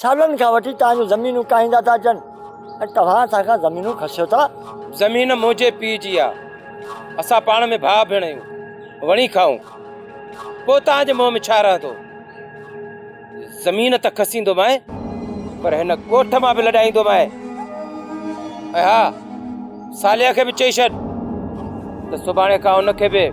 سالن کان وٺي توهان جون زمينون ڪاهيندا ٿا اچن ۽ توهان اسان کان زمينون کسيو ٿا. زمين منهنجي پيء جي آ، اسان پاڻ ۾ ڀاء ڀيڻ آهيون، وڻي کائون، پوء توهان جي منهن ۾ ڇا رهندو؟ زمين تان کسيندو مئي پر هن ڳوٺ مان به لڏائيندو مئي ۽ ها ساليا کي به چئي ڇڏ ته سڀاڻي کان هن کي به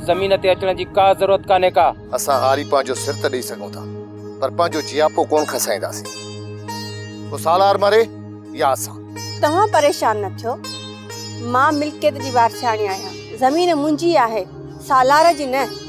زمين تي اچڻ جي ڪا ضرورت ڪانهي ڪا. اسان هاري پنهنجو سر ته ڏئي سگهون ٿا پر پنهنجو جياپو ڪونه کسائينداسين. پوء سالار مري يا اسان. توهان پريشان نه ٿيو. مان ملڪيت جي وارثياڻي آهيان. زمين منهنجي آهي سالار جي نه.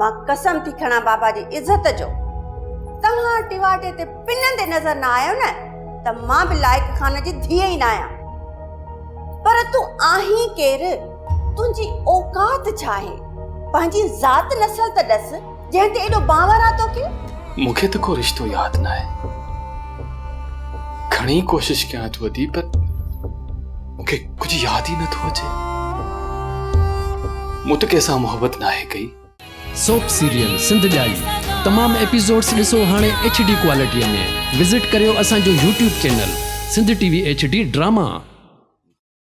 مان قسم ٿي کڻان بابا جي عزت جو توهان ٽواٽي تي پنندي نظر نه آيو نه ته مان به لائق خان جي ڌيء ئي نه آهيان پر تون آهين ڪير تنهنجي اوقات ڇا آهي پنهنجي ذات نسل ته ڏس جنهن تي ايڏو باور آ توکي مون کي ته ڪو رشتو ياد ناهي گهڻي ڪوشش ڪيان ٿو ادي پر مون کي ڪجهه ياد ئي نه ٿو اچي. مون ته ڪنهن سان محبت ناهي ڪئي. سوپ سيريل سنڌ ڄائي تمام ايپيسوڊس ڏسو هاڻي ايڇ ڊي ڪوالٽي ۾ وزٽ ڪريو اسان جو YouTube channel Sindh T V H D drama.